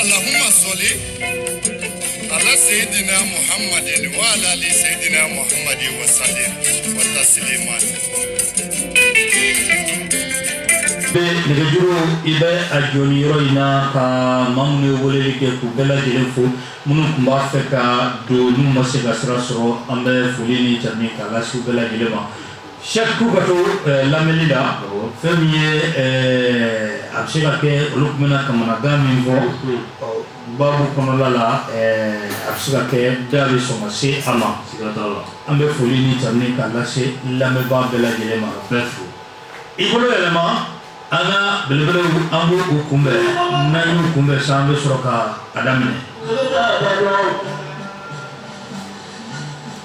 Allahumma soli ala seyidina Muhammadin wa ala ali seyidina Muhammadin wa salim wa tasliman. bɛ nɛgɛjuru i bɛ a jɔ nin yɔrɔ in na ka maa minnu ye weleli kɛ k'u bɛɛ lajɛlen fo minnu tun b'a fɛ ka don n'u ma se ka sira sɔrɔ an bɛ foli ni jamu k'a lase u bɛɛ lajɛlen ma Sɛku ka to lamɛnli la fɛn min ye a bɛ se ka kɛ olu tun bɛ kamanakan min fɔ babu kɔnɔla la a bɛ se ka kɛ da bɛ sɔn se a ma an bɛ foli ni tanuni k'a lase lamɛnbaa bɛɛ lajɛlen ma bɛɛ fo i bolo yɛlɛma an ka belebele an b' u kunbɛn n kunbɛn sani an bɛ sɔrɔ ka a daminɛ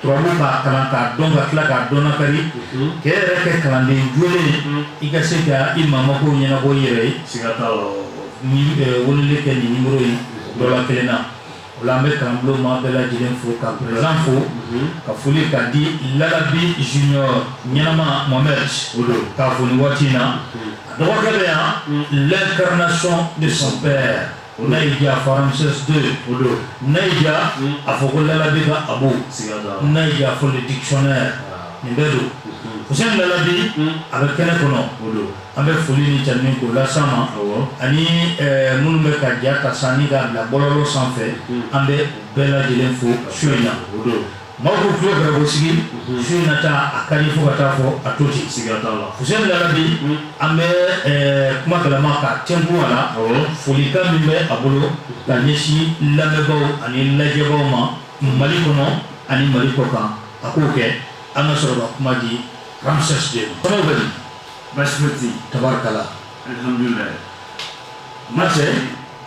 Turabu kalan k'a dɔn ka tila k'a dɔn kari k'i yɛrɛ kɛ kalanden jo i ka se ka i mako ɲɛnabɔ i yɛrɛ ye siga weleli kɛ nimɔrɔ in dɔ la kelen na o an bɛ kalanbolo maa bɛɛ lajɛlen fo ka perezidan fo ka foli ka di Lalabi Junior ɲɛnama Mohamed o don k'a foli waati in na a dɔgɔkɛ bɛ yan l'incarnation de son père O n'a y'i diya a fɔ RAMSES II o don n'a y'i diya a fɔ ko Lalabi ka Abu n'a y'i diya a fɔ le dictionnaire nin bɛɛ don Fuseni Lalabi a bɛ kɛnɛ kɔnɔ o don an bɛ foli ni jamu k'o lase a ma ani minnu bɛ k'a ja k'a saniya k'a bila bɔlɔlɔ sanfɛ an bɛ bɛɛ lajɛlen fo su in na o don Maaw ko tulo gɛrɛko sigi su in na taa a ka fo ka taa fɔ a to ci sigi Lalabi an bɛ kuma d'a ma ka cɛku a la folikan min bɛ a bolo ka ɲɛsin lamɛnbagaw ani lajɛbagaw ma mali kɔnɔ ani mali kɔkan a k'o kɛ an ka sɔrɔ ka kuma di RAMSES II basi tɛ tarikala ma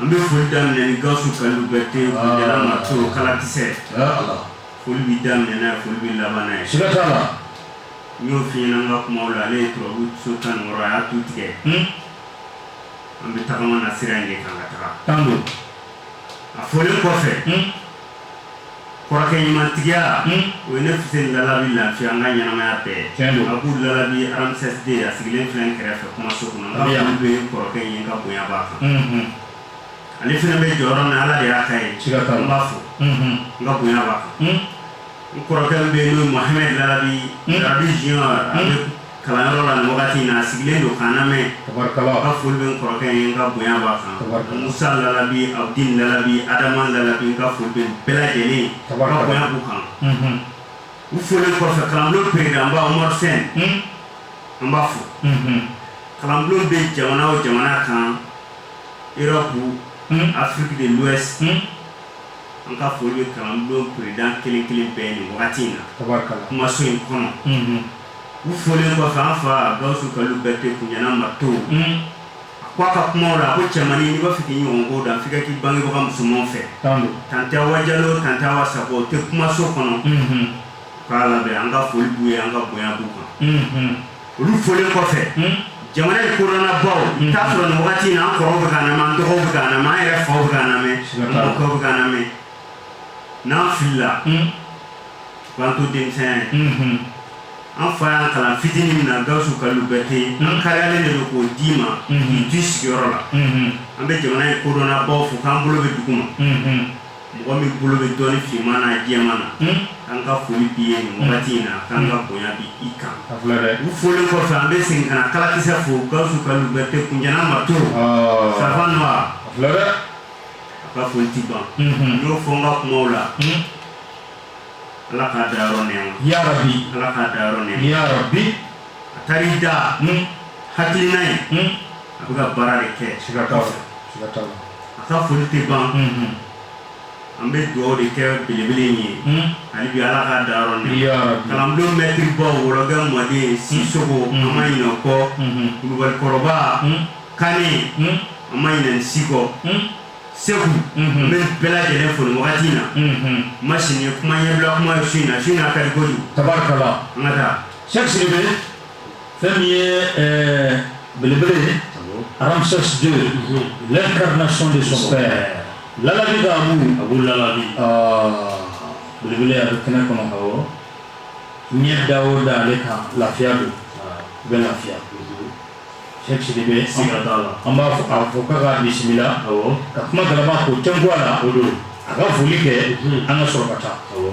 An bɛ foli daminɛ ni Gawusu Kalilu Berete Jara Mato kalakisɛ, yaa Ala, foli bɛ daminɛ n'a ye foli bɛ laban n'a ye, siga t'a la, n y'o f'i ɲɛna n ka kumaw la ale ye turabu so 16 a y'a tu tigɛ, hun, an bɛ tagama na sira in de kan ka taga, tan don, a fɔlen kɔfɛ, hun kɔrɔkɛ ɲumantigiya o ye ne Fuseni Lalabi lafiya n ka ɲɛnamaya bɛɛ tiɲɛ don Abu Lalabi RAMSES II a sigilen filɛ n kɛrɛfɛ kumaso kɔnɔ n ka foli bɛ kɔrɔkɛ in ye n ka bonya b'a kan ale fana bɛ jɔyɔrɔ min na Ala de y'a k'a ye siga t'a la n b'a fo n ka bonya b'a kan. n kɔrɔkɛ bɛ yen n'o ye Mohamed Larabi Larabi junior a bɛ kalanyɔrɔ la nin wagati in na a sigilen don k'an lamɛn tabarikala n ka foli bɛ n kɔrɔkɛ ye n ka bonya b'a kan tabarikala Musa Larabi Abudin Larabi Adama Larabi n ka foli bɛ nin bɛɛ lajɛlen ye n ka bonya b'u kan u folen kɔfɛ kalanbulon peredanba Umaru Sɛn an b'a fo kalanbulon bɛ jamana o jamana kan Europe Afrique de l'Ouest An ka foli bɛ kalanbulon président kelen kelen bɛɛ ye nin wagati in na. Tabarikala. Kumaso in kɔnɔ. Unhun. U folen kɔfɛ, an fa Gawusu Kalilu Berete Kuɲɛna Marteau. Unhun. A ko a ka kumaw la, a ko cɛmannin n'i b'a fɛ k'i ɲɔgɔn ko dan, f'i ka k'i bangebaga musomanw fɛ. Tan don. Tante Awa Jalo, tante Awa Sakɔ, u tɛ kumaso kɔnɔ. Unhun. U k'an lamɛn, an ka foli b'u ye, an ka bonya b'u kan. Unhun. olu folen kɔfɛ hmm? jamana ye kodɔnnabaw hmm. t'a sɔrɔ nin wagati in an kɔrɔw bɛ k'an lamɛn an dɔgɔw bɛ k'an lamɛn an yɛrɛ faw bɛ k'an lamɛn an mɔkɛw bɛ k'an lamɛn n'an filila hmm? u b'an to denmisɛnya ye an fa y'an kalan fitinin min na gawusu kalilu berete an kariyalen de don k'o d'i ma k'i to i sigiyɔrɔ la an bɛ jamana ye kodɔnnabaw fo k'an bolo bɛ dugu ma mɔgɔ min bolo bɛ dɔnni finman na jɛman na hmm? an ka foli b'i ye nin wagati in na k'an ka bonya bi i kan u folen kɔfɛ an bɛ segin ka na kalakisɛ fo gawusu kalilu berete kunjana marteau ah. safa nɔ a ka foli ti ban n hmm. y'o fɔ n ka kumaw la hmm. ala k'a dayɔrɔ nɛɛma yarabi ala k'a dayɔrɔ nɛɛma yarabi a taar'i da hakilina ye a bɛ ka baara de kɛ siga t'a la siga t'a la a ka foli tɛ ban an bɛ dugawu de kɛ belebele in ye ani bɛ ala ka da kalanbulon mɛtiriba wɔkɛ mɔden sisoko an ma ɲinɛ i kɔ kulubali kɔrɔba kane an ma ɲinɛ si kɔ segu an bɛ bɛɛ lajɛlen fo nin wagati in na ma sini kuma ɲɛ bila kuma ye su in na su' ka kojugu an ka taa sɛ bɛ fɛn min ye ɛɛ belebele ye Ramsès II l'incarnation de son père larabi ka mun a b'o larabi belebele a bɛ kɛnɛ kɔnɔ awɔ ɲɛ da o da ale kan lafiya don u bɛ lafiya Cheikh Sidibe siga t'a la an b'a fo a fɔ k'a ka bisimila awɔ ka kuma galama k'o tɛnku a la o don a ka foli kɛ an ka sɔrɔ ka taa awɔ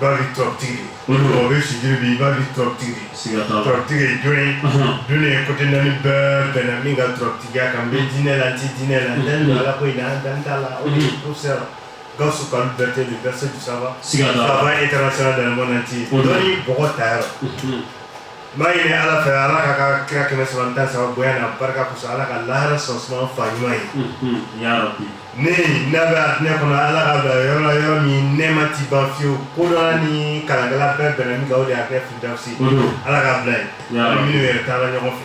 Bari tɔɔrɔtigi mɔgɔ bɛ Sidibe i bari tɔɔrɔtigi tɔɔrɔtigi jɔn ye diɲɛ côté naani bɛɛ bɛnna min ka tɔɔrɔtigiya kan bɛ dinɛ la di dinɛ la n ala ko in an dan da la o sera Gawusu Kalilu Berete verset savantba international dɛmɛɛna ci dɔn mɔgɔ ta yɔrɔ N b'a ɲini ala fɛ ala ka ka kira kɛmɛ saba ni tan ni saba bonya n'a barika kosɔn ala ka lahara sɔrɔ suma fa ɲuman ye ne ne bɛ arijinɛ kɔnɔ ala k'a bila yɔrɔ la yɔrɔ min nɛɛma tɛ ban fiyewu ko ni kala bɛɛ bɛn min de y'a kɛ fisi ala k'a bila yen minnu yɛrɛ taara ɲɔgɔn fɛ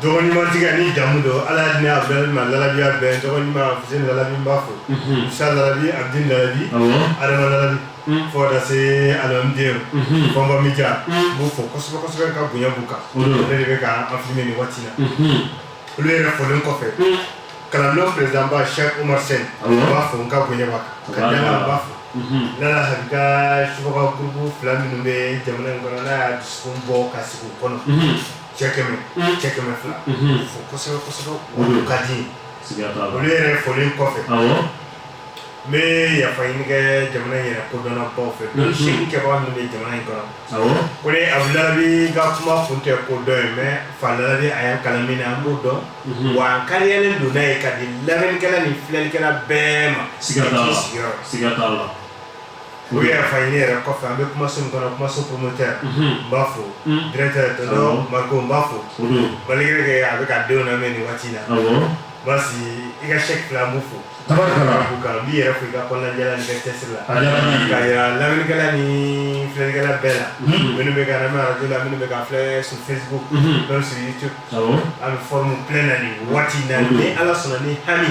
tɔgɔɲumantigi ni jamu don Ala y'a di ne Abudulayi ma labi y'a bɛɛ tɔgɔ ɲuman Fuseni Larabi n b'a fo, unhun, Musa Larabi, Abudin Larabi, awɔ, Adama Larabi, un, fo ka taa se Alimamidenw, unhun, Fɔnba Mija, un, n b'u fo kosɛbɛ kosɛbɛ ka bonya b'u kan, o don, ne de bɛ ka an filmer nin waati in na, unhun, olu yɛrɛ folen kɔfɛ, un, kalanbulon président ba Sɛki Umaru Sɛn, awɔ, n b'a fo n ka bonya b'a kan, ka danaya n b'a fo, unhun, n nana Habi ka subaga groupe fila minnu bɛ jamana in kɔnɔ n'a y'a dusukun bɔ ka sigi u kɔnɔ, unhun cɛ kɛmɛ cɛ kɛmɛ fila fo kosɛbɛ kosɛbɛ olu ka di olu yɛrɛ folen kɔfɛ n bɛ yafa ɲini kɛ jamana in yɛrɛ kodɔnna baw fɛ don si kɛbaga min bɛ jamana in kɔnɔ ko de abu labi ka kuma kun tɛ ko dɔn ye mɛ fa labi a ye kalan min na an b'o dɔn wa an kariyalen don n'a ye ka di lamɛnnikɛla ni filɛlikɛla bɛɛ ma sigiyɔrɔ sigiyɔrɔ U yɛrɛ folen yɛrɛ kɔfɛ an bɛ kumaso min kɔnɔ kumaso promoteur n b'a fo directeur Mariko n b'a fo balikɛ a bɛ ka denw na mɛn nin waati na baasi i ka sɛ fila n b'u fo n b'i yɛrɛ fo i ka kɔn diyara ni cɛsiri la ka lamɛnnikɛla ni filɛlikɛla bɛɛ la minnu bɛ ka mɛn arajo la minnu bɛ ka filɛ sur Facebook sur YouTube an bɛ fɔ filɛ na nin waati na ni ala sɔnna ni hami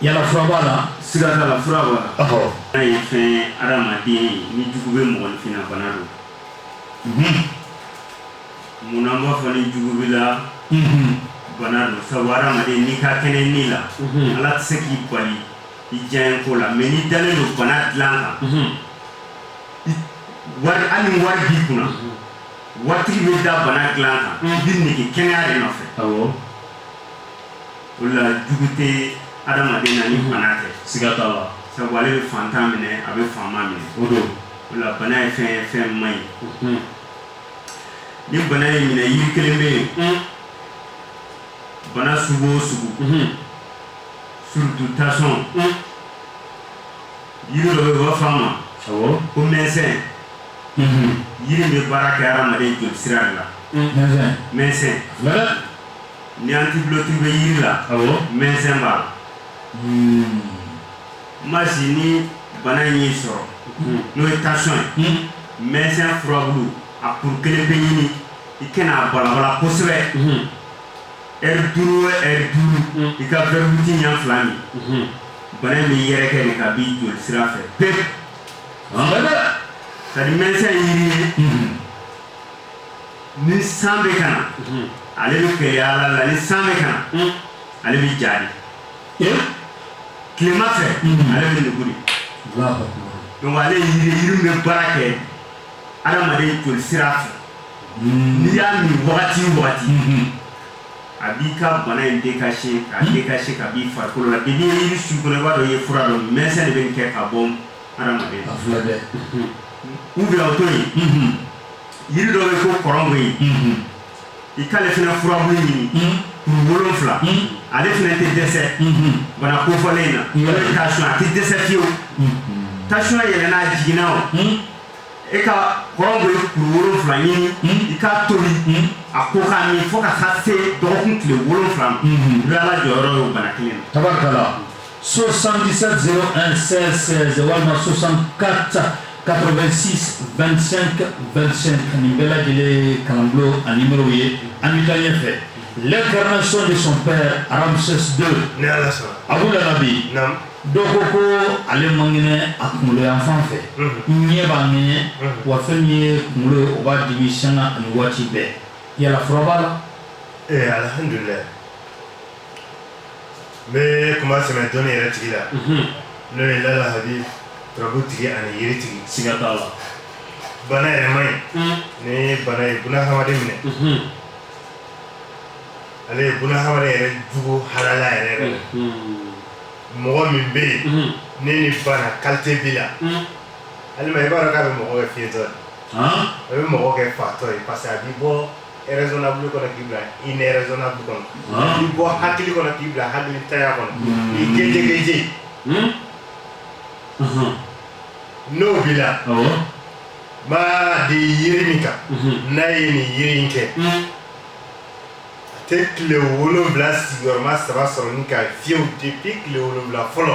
Yala fura b'a la? Siga t'a la fura b'a la. Ɔhɔ! N'a ye fɛn ye adamaden ye ni jugu bɛ mɔgɔninfin na bana don. Unhun! Munna an b'a fɔ ni jugu b'i la. Unhun! Bana don sabu adamaden n'i ka kɛnɛ ni la. Unhun! Ala tɛ se k'i bali i diyaɲɛ ko la mais n'i dalen don bana dilan kan. Unhun! I wari hali ni wari b'i kunna. Unhun! Waritigi bɛ da bana dilan kan. Unhun! I bɛ nege kɛnɛya de nɔfɛ. Awɔ! O la jugu tɛ adamaden na ni bana tɛ siga t'a la sabu ale bɛ fantan minɛ a bɛ faama minɛ o don o la bana ye fɛn ye fɛn man ɲi ni bana y'i minɛ yiri kelen bɛ yen bana sugu o sugu surtout tension yiri dɔ bɛ u b'a fɔ a ma ko mɛnsɛn yiri bɛ baara kɛ adamaden joli sira de la mɛnsɛn Ni antidote bɛ jiri la mɛnsɛn b'a la ma si ni bana in y'i sɔrɔ n'o ye tension ye mɛnsɛn a furabulu a kuru kelen pe ɲini i ka na a balabala kosɛbɛ eri duuru eri duuru i ka fɛnti ɲɛ fila min bana in bɛ yɛrɛkɛ ka b'i joli sira fɛ ka mɛnsɛn ye ni san bɛ ka na mhm. ale bɛ kɛ yaala la ni san bɛ ka na mhm. ale bɛ ja de tilema fɛ mhm. ale bɛ nugu de donc ale yiri in bɛ baara kɛ adamaden joli sira fɛ n'i y'a min wagati o wagati a b'i ka bana in dekase k'a dekase ka b'i farikolo la depuis yiri su kɔnɔ i b'a dɔn i ye fura dɔ min mɛnsɛn de bɛ nin kɛ ka bɔ u bila to yen yiri dɔ bɛ ko kɔrɔngɔyi i k'ale fana furabulu ɲini kuru wolonfila ale fana tɛ dɛsɛ bana kofɔlen na tension a tɛ dɛsɛ fiyewu tension yɛlɛnna a jiginna o i ka kɔrɔngɔyi kuru wolonfila ɲini i k'a tobi a ko k'a min fo ka taa se dɔgɔkun tile wolonfila ma i bɛ ala jɔyɔrɔ y'o bana kelen na. 77011616 walima 74862525 nin bɛɛ lajɛlen kalanbulon a nimɔrɔ ye an bɛ taa ɲɛ fɛ l'incarnation de son père Ramsès 2 a bɛ la bi dɔ ko ko ale mankɛnɛ a kunkolo yan fan fɛ ɲɛ b'a ŋɛɲɛ wa fɛn min ye kunkolo ye o b'a dimi sanga ani waati bɛɛ yala fura b'a la ee alihamdulila n bɛ kuma sɛmɛ dɔnni yɛrɛ tigi la n'o ye lala habi turabu tigi ani yiri tigi siga t'a la bana yɛrɛ man ɲi ni bana ye buna hadamaden minɛ ale ye buna hadamaden yɛrɛ jugu halala yɛrɛ yɛrɛ la mɔgɔ min bɛ yen ni nin bana kalite b'i la alima i b'a dɔn k'a bɛ mɔgɔ kɛ fiyentɔ ye a bɛ mɔgɔ kɛ fatɔ ye parce que a b'i bɔ raisonnable kɔnɔ k'i bila irraisonnable kɔnɔ i bɔ hakili kɔnɔ k'i bila hakilintanya kɔnɔ i keje keje n'o b'i la b'a di yiri min kan n'a ye nin yiri in kɛ a tɛ tile wolonwula sigiyɔrɔma saba sɔrɔ ni ka fiyew depuis tile wolonwula fɔlɔ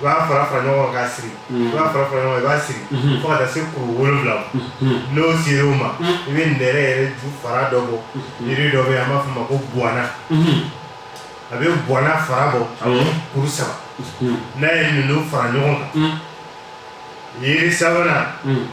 i b'a fara fara ɲɔgɔn kan k'a siri i b'a fara fara ɲɔgɔn kan i b'a siri fo ka taa se kuru wolonwula ma n'o sera o ma i bɛ nɛrɛ yɛrɛ ju fara dɔ bɔ yiri dɔ bɛ yen an b'a fɔ o ma ko buwana a bɛ buwana fara bɔ kuru saba n'a ye ninnu fara ɲɔgɔn kan yiri sabanan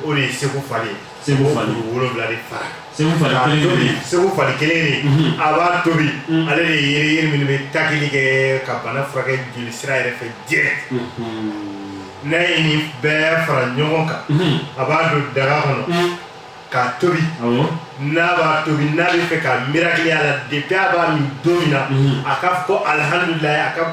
o de ye segufali ye segufali wolowula de fara segufali kelen segufali kelen mhm. a b'a tobi mhm. ale de ye yiri minnu bɛ takili kɛ ka bana furakɛ joli sira yɛrɛ fɛ direct mhm. n'a ye nin bɛɛ fara ɲɔgɔn kan a b'a don daga kɔnɔ k'a tobi n'a y'a tobi n'a b'a fɛ ka mirakili ye a la depuis a b'a min don min na a k'a fɔ ko alihamudulayi a ka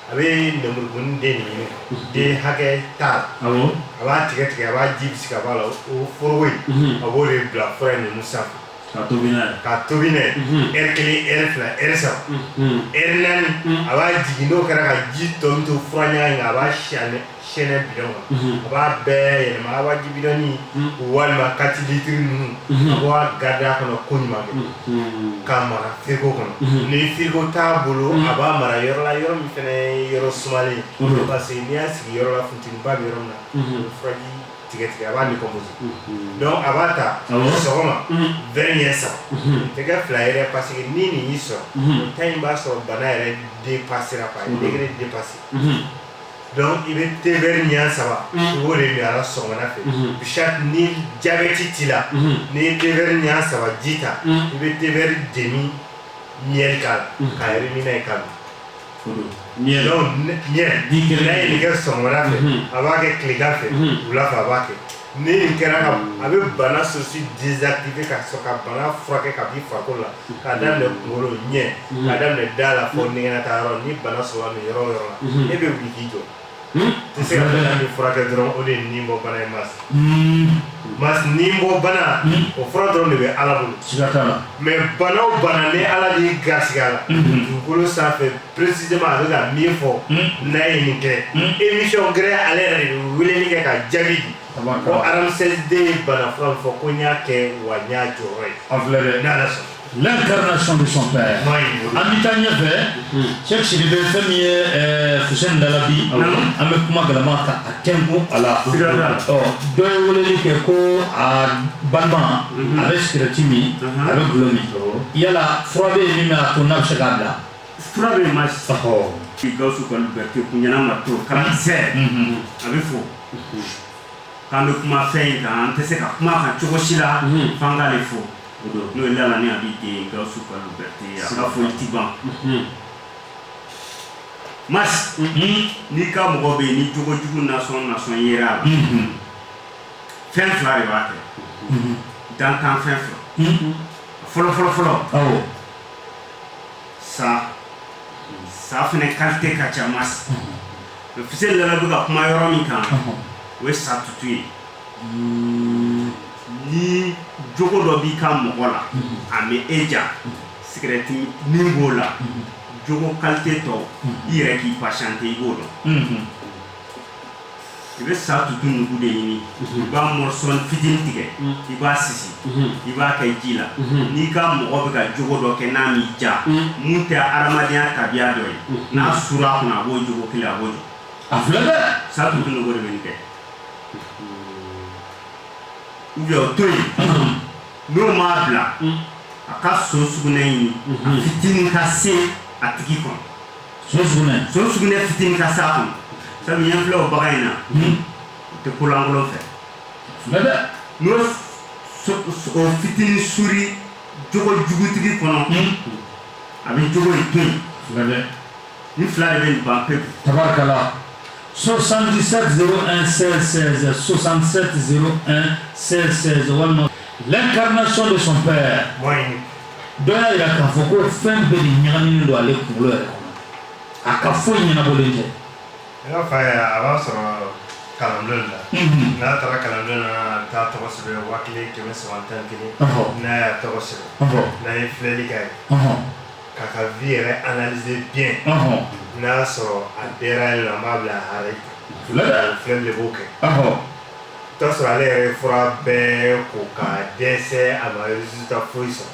a bɛ lenburukumuni den de ɲini den hakɛ tan awɔ a b'a tigɛ tigɛ a b'a ji bisi ka bɔ a la o foroko in unhun a b'o de bila fura in ninnu sanfɛ ka tobi n'a ye ka tobi n'a ye unhun heure kelen heure fila heure saba unhun heure naani a b'a jigin n'o kɛra daga ji tɔ min to fura ɲaga in kan a b'a sɛnɛ sɛnɛ bidɔn a b'a bɛɛ yɛlɛma waati bidɔni walima kati litiri ninnu k'a garde a kɔnɔ koɲuman k'a mara frigo kɔnɔ ni frigo t'a bolo a b'a mara yɔrɔla yɔrɔ min fana yɔrɔ sumalen parce que n'i y'a sigi yɔrɔla funteni ba bɛ yɔrɔ min na furaji tiɲɛtiɲɛ a b'a kɔ dɔnku a b'a ta sɔgɔma verre ɲɛ saba tɛgɛ fila yɛrɛ parce que ni nin y'i sɔrɔ ta in b'a sɔrɔ bana yɛrɛ dépasséra pa ye dépassé Dɔnku i bɛ te verre ɲɛ saba o de min a sɔgɔma fɛ ni jabɛti t'i la n'i ye te verre ɲɛ saba ji ta i bɛ te verre demi miel k'a la ka yɛrɛ min ye ka ɲɛ ɲɛ kɛ sɔgɔma fɛ a b'a kɛ tilegan fɛ wula fɛ a b'a kɛ Ni nin kɛra ka a bɛ bana source désactivé ka sɔrɔ ka bana furakɛ k'a bɔ farikolo la k'a daminɛ kunkolo ɲɛ k'a daminɛ da la fo ɲɛgɛn taa yɔrɔ ni bana sera i yɔrɔ o yɔrɔ la e bɛ wuli k'i jɔ tɛ se ka nin furakɛ dɔrɔn o de ye nibɔbana ye mais mais nibɔbana o fura dɔrɔn de bɛ ala bolo mais bana o bana ni ala ni gaya la dugukolo sanfɛ précisément a bɛ ka min fɔ hmm. n'a ye nin kɛ hmm. émission yɛrɛ ale yɛrɛ de bɛ weleli kɛ ka jaabi di ko araden ye bana fɔlɔ fɔ ko n y'a kɛ wa n y'a jɔyɔrɔ ye an filɛ dɛ n'ala sɔn L'incarnation de son père. An bɛ taa ɲɛfɛ Cheikh Sidibe fɛn min ye Fuseni Dalabi an bɛ kuma galama ka a tɛnku a la dɔ ye weleli kɛ ko a balima a bɛ sigɛrɛti min a bɛ gulɔ min yala fura bɛ yen min b'a to n'a bɛ se k'a bila Fura bɛ ma k'i ga kulubali bɛ to kun ɲɛna ma to kalankisɛsɛ a bɛ fɔ k'an bɛ kuma fɛn in kan an tɛ se ka kuma kan cogo si la fan'a de fɔ n'o ye la ni a bɛ den ga kulubali bɛ a ka fɔ i tɛ ban ma n'i ka mɔgɔ bɛ yen ni jogojugu n'a sɔnna sonya la fɛn fila de b'a kɛ dantanfɛn fila fɔlɔfɔlɔfɔlɔ sa sa fana kalite ka ca mɛkisɛ nana bɛ ka kuma yɔrɔ min kan o ye sa tutu ye ni jogo dɔ b'i ka mɔgɔ la a bɛ e ja sekɛrɛti min b'o la jogo kalite tɔw i yɛrɛ k'i ba sante i b'o dɔn i bɛ sa tutu nugu de ɲini i b'a mɔrɔso fitinin tigɛ i b'a sisi i b'a kɛ ji la n'i ka mɔgɔ bɛ ka jogo dɔ kɛ n'a min ja min tɛ adamadenya tabiya dɔ ye n'a sura a kɔnɔ a b'o jogo kelen a b'o jɔ a filɛ dɛ sa tutu nugu de bɛ nin kɛ a bɛ o to yen n'o m'a bila a ka so sugunɛ ɲini a fitinin ka se a tigi kɔnɔ so sugunɛ fitinin ka se a kɔnɔ sabu yan filɛ o bagan in na hmm. o tɛ kolankolon fɛ n'o o fitinin suuru jogo jugutigi kɔnɔ hmm. a bɛ jogo in to yen nin fila de bɛ nin ban pewu. tabarikala. 77 01 16 16 77 01 16 16 walima l'incarnation de son père. Moyen. dɔ y'a jira k'a fɔ ko fɛn bɛɛ de ɲagaminen don ale kunkolo yɛrɛ kɔnɔ a ka foyi ɲɛnabɔlen tɛ ne ka fa yɛ a b'an sɔrɔ kalandon la mhm. n'a taara kalandon na a bɛ taa tɔgɔ sɛbɛn waa kelen kɛmɛ saba tan ni kelen n'a y'a tɔgɔ sɛbɛn n'an ye filɛli k'a ye k'a ka vi yɛrɛ analyser bien n'an y'a sɔrɔ a dɛra ye la an b'a bila a hare filɛ de b'o kɛ O y'a sɔrɔ ale yɛrɛ ye fura bɛɛ ko ka dɛsɛ a ma résultat foyi sɔrɔ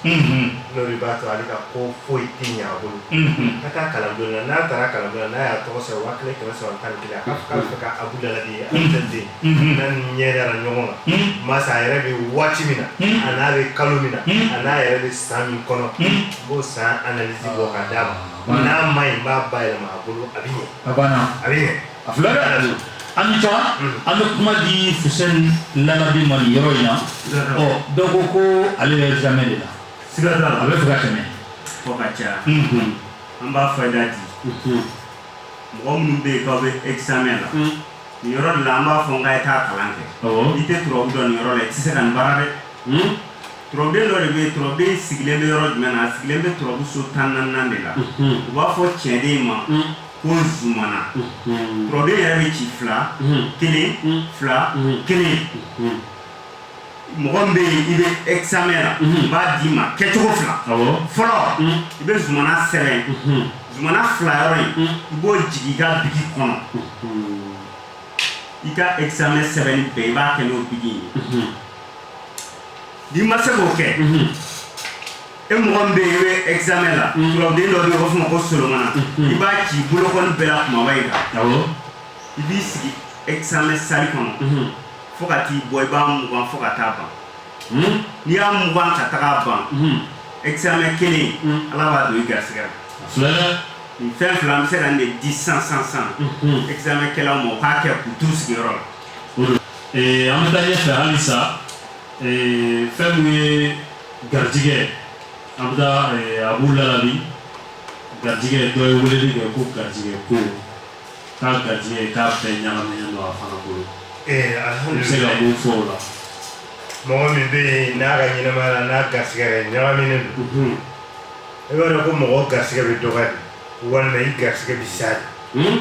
n'o de b'a to ale ka ko foyi tɛ ɲɛ a bolo a ka taa kalandon na n'a taara kalandon na n'a y'a tɔgɔ sɛbɛn waa kelen kɛmɛ saba tan ni kelen k'a fɛ ka abu dala ye a den n'a ni ɲɛ dara ɲɔgɔn na masa a yɛrɛ bɛ waati min na a n'a bɛ kalo min na a n'a yɛrɛ bɛ san min kɔnɔ b'o san analisi bɔ ka d'a ma n'a man ɲi n b'a ba yɛlɛma a bolo a bɛ ɲɛ a bɛ ɲɛ A fila an ni taa an bɛ kuma di Fuseni labi ma nin yɔrɔ in na donc ko ale ye examen de la siga a bɛ fɛ kɛmɛ fɔ ka ca an b'a fɔ da di mɔgɔ minnu bɛ yen k'aw bɛ examen la nin yɔrɔ de la an b'a fɔ nka ye taa kalan kɛ i tɛ turabu dɔn nin yɔrɔ la i tɛ se ka nin baara dɛ turabuden dɔ de bɛ turabuden sigilen bɛ yɔrɔ jumɛn na sigilen bɛ turabu so tan ni naani de la u b'a fɔ cɛnden ma ko zumana turabuden yɛrɛ bɛ ci fila kelen fila kelen mɔgɔ min bɛ yen i bɛ examen la n b'a d'i ma kɛcogo fila fɔlɔ i bɛ zumana sɛbɛn zumana fila yɔrɔ in i b'o jigin i ka bigi kɔnɔ i ka examen sɛbɛnni bɛɛ i b'a kɛ n'o bigi ye n'i ma se k'o kɛ e mɔgɔ min bɛ yen i bɛ examen la turabuden dɔ bɛ yen u b'a fɔ ma ko solomana i b'a ci bolokɔni bɛɛ la kumaba in kan i b'i sigi examen sali kɔnɔ fo ka t'i bɔ i b'a mugan fo ka taa ban n'i y'a mugan ka taa ban examen kɛlen ala b'a don i garisigɛ la nin fɛn fila an bɛ se ka nin de di san san san examen kɛlaw ma u k'a kɛ k'u t'u sigiyɔrɔ la an bɛ taa ɲɛfɛ halisa ee fɛn min ye garijigɛ an bɛ taa ee, abu lalabi garijigɛ dɔ ye weleli kɛ ko garijigɛ ko k'a garijigɛ k'a bɛɛ ɲagaminen don a fana bolo ee u bɛ se ka alihamdulilayi mun fɔ o la mɔgɔ min bɛ yen n'a ka ɲɛnamaya la n'a garisɛgɛ yɛrɛ ɲagaminen don Mhm. i b'a dɔn ko mɔgɔ garisɛgɛ bɛ dɔgɔya de walima i garisɛgɛ bɛ sa de Hmm?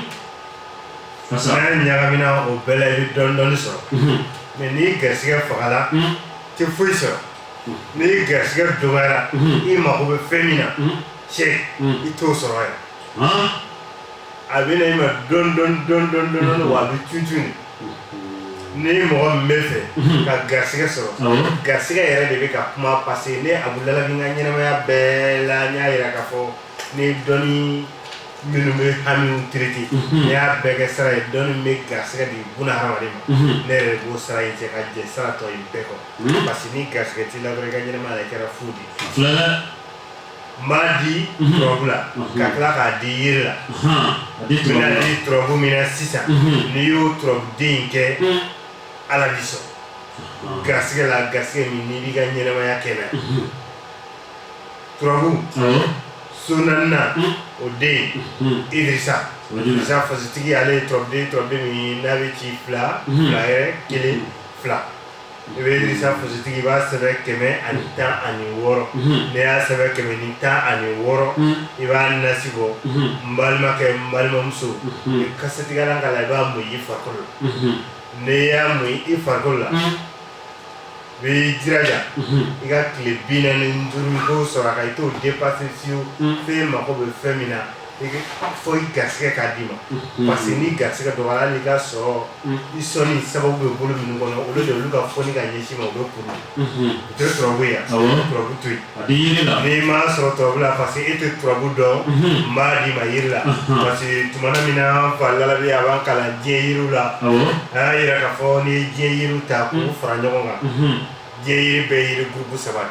N'a ɲagamina o bɛɛ la i bɛ dɔɔnin dɔɔnin sɔrɔ mɛ n'i garisigɛ fagala i tɛ foyi sɔrɔ n'i garisigɛ dɔgɔyara i mago bɛ fɛn min na cɛ i t'o sɔrɔ yan a bɛ na i ma dɔɔnin dɔɔnin wa a bɛ tutu ni mɔgɔ min b'a fɛ ka garisigɛ sɔrɔ garisigɛ yɛrɛ de bɛ ka kuma parce que ne abu lalabi ka ɲɛnamaya bɛɛ la n y'a jira k'a fɔ ni dɔn Minnu bɛ hamimu tiriti n y'a bɛɛ kɛ sara ye dɔnni bɛ garisigɛ de bolo ha de ma ne yɛrɛ b'o sara in cɛ ka jɛ saratɔ in bɛɛ kɔ parce que ni garisigɛ t'i la dɔrɔn i ka ɲɛnamaya yɛrɛ kɛra fu dɛ n b'a di turabu la ka tila k'a di jiri la turabu min na sisan n'i y'o turabuden kɛ ala b'i sɔn garisigɛ la garisigɛ min n'i b'i ka ɲɛnamaya kɛ na turabu so naaninan o den isa isa fasitigi ale ye turabuden turabuden min n'a bɛ ci fila fila yɛrɛ kelen fila i bɛ isa fasitigi i b'a sɛbɛn kɛmɛ ani tan ani wɔɔrɔ n'i y'a sɛbɛn kɛmɛ ni tan ani wɔɔrɔ i b'a nasi bɔ n balimakɛ n balimamuso i kasɛtigɛlan ka la i b'a mun i farikolo n'i y'a mun i farikolo la I b'i jija i ka tile bi naani ni duuru sɔrɔ ka i t'o dépasser fiyewu fɛn mako bɛ fɛn min na fo i garisigɛ k'a d'i ma parce que n'i garisigɛ dɔgɔyara i ka sɔrɔ i sɔnni sababu bɛ bolo minnu kɔnɔ olu de olu ka foni ka ɲɛsin i ma u bɛ kuru u tɛ sɔrɔ yan turabu to yen A bɛ jiri la n'i m'a sɔrɔ turabu la parce que e tɛ turabu dɔn n b'a d'i ma jiri la parce que tuma min na n fa lalabi a b'an kalan diɲɛ yiriw la a y'a jira k'a fɔ n'i ye diɲɛ yiri ta k'u fara ɲɔgɔn kan diɲɛ yiri bɛ yiri groupe saba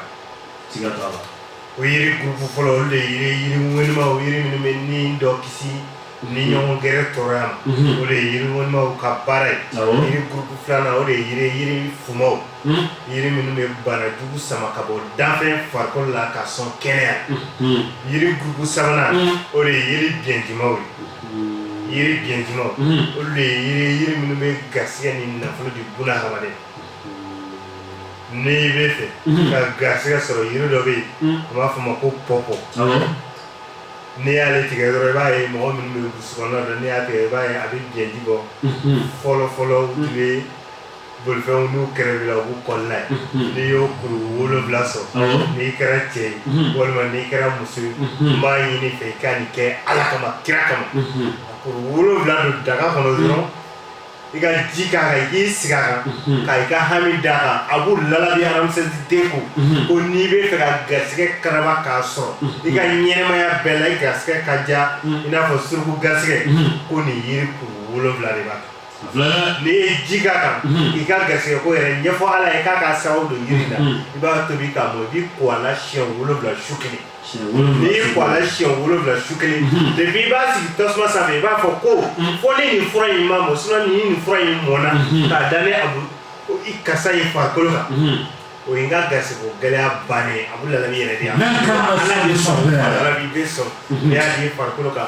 o yiri groupe fɔlɔ olu de yiri yiri wlimaw jiri minnu bɛ ni dɔ kisi ni ɲɔgɔn gɛrɛ tɔɔrɔ yan mhm. o de ye yiri dawulamaw ka baara ye yiri gurupu filanan o de ye yiri yiri furamaw mhm. yiri minnu bɛ bana jugu sama ka bɔ danfɛn farikolo la ka sɔn kɛnɛya mhm. yiri gurupu sabanan o de ye yiri biɲɛdimaw ye yiri biɲɛdimaw olu de ye yiri yiri minnu bɛ garisɛgɛ ni nafolo di buna hadamaden n'i bɛ fɛ ka garisɛgɛ sɔrɔ yiri dɔ bɛ yen u b'a fɔ o ma ko pɔpɔ N'i y'ale tigɛ dɔrɔn i b'a ye mɔgɔ min bɛ sokɔnɔ la n'i y'a tigɛ i b'a ye a bɛ jɛji bɔ fɔlɔfɔlɔ tun bɛ bolifɛnw n'u kɛrɛbela u b'u kɔli n'a ye n'i y'o kuru wolowula sɔrɔ n'i kɛra cɛ ye walima n'i kɛra muso ye n b'a ɲini i fɛ i ka nin kɛ ala kama kira kama a kuru wolowula don daga kɔnɔ dɔrɔn i ka ji k'a kan i k'i sigi a kan ka i ka hami d'a kan a b'u lalabi hadamasensi den ko ko n'i bɛ fɛ ka garisɛgɛ karaba k'a sɔrɔ i ka ɲɛnamaya bɛɛ la i garisɛgɛ ka diya i n'a fɔ suruku garisɛgɛ ko nin yiri kuru wolonwula de b'a kan n'i ye ji k'a kan i ka garisɛgɛ ko yɛrɛ ɲɛfɔ ala ye k'a ka sababu don yiri la i b'a tobi k'a mɔ i b'i ko a la siɲɛ wolonwula su kelen N'i y'i ko a la siɲɛ wolowula su kelen mhm. de i b'a sigi tasuma sanfɛ i b'a fɔ ko mhm. fo ni nin fura in ma mɔ sin ni nin fura in mɔnna mhm. k'a da ne a bolo i karisa ye farikolo kan o ye n ka garisɛgɛ ko gɛlɛya bannen a bɛ la yɛrɛ de yan ala bɛ sɔn bɛ sɔn n'i y'a da i farikolo kan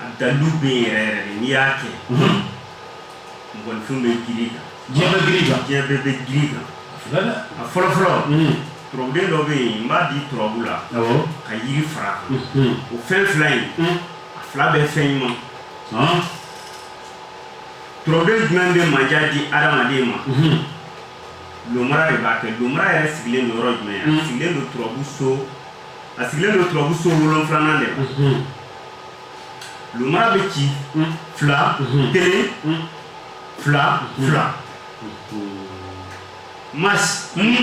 A dalilu bɛ yen yɛrɛ yɛrɛ de n'i y'a kɛ mɔgɔninfin bɛ girin i kan diɲɛ bɛɛ bɛ girin i kan a fɔlɔ fɔlɔ turabuden dɔ bɛ yen n b'a di turabu la ka yiri fara o fɛn fila in a fila bɛ fɛn ɲuman turabuden jumɛn bɛ mandiya di adamaden ma lomara de b'a kɛ lomara yɛrɛ sigilen don yɔrɔ jumɛn sigilen don turabu so a sigilen don turabu so wolonfilanan de la lomara bɛ ci fila kelen fila fila mas n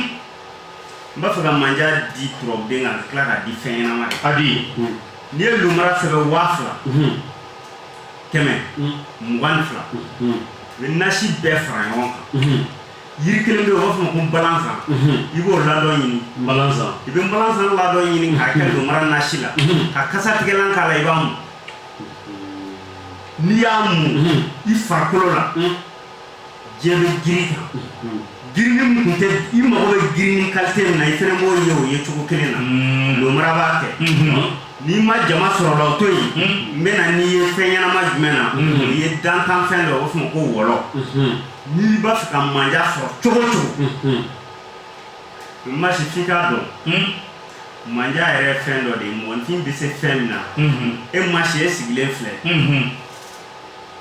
b'a fɛ ka manja di turabuden ka tila k'a di fɛn ɲɛnama de a di n'i ye lomara sɛbɛn waa fila kɛmɛ mugan ni fila i bɛ nasi bɛɛ fara ɲɔgɔn kan yiri kelen bɛ yen u b'a fɔ o ma ko balansan i b'o ladɔn ɲini balansan i bɛ balansan ladɔn ɲini k'a kɛ lomara nasi la ka kasa tigɛlan k'a la i b'a mu n'i y'a mu i farikolo la diɲɛ bɛ girin i kan girini min tun tɛ i mago bɛ girini kalite min na i fana b'o ye o ye cogo kelen na lomara b'a kɛ n'i ma jama sɔrɔ la o to yen n bɛna n'i ye fɛn ɲɛnama jumɛn na n'i ye dantanfɛn dɔ u b'a fɔ o ma ko wɔlɔ N'i b'a fɛ ka manja sɔrɔ cogo cogo Masi f'i k'a dɔn manja yɛrɛ fɛn dɔ de ye mɔgɔninfin bɛ se fɛn min na e Masi e sigilen filɛ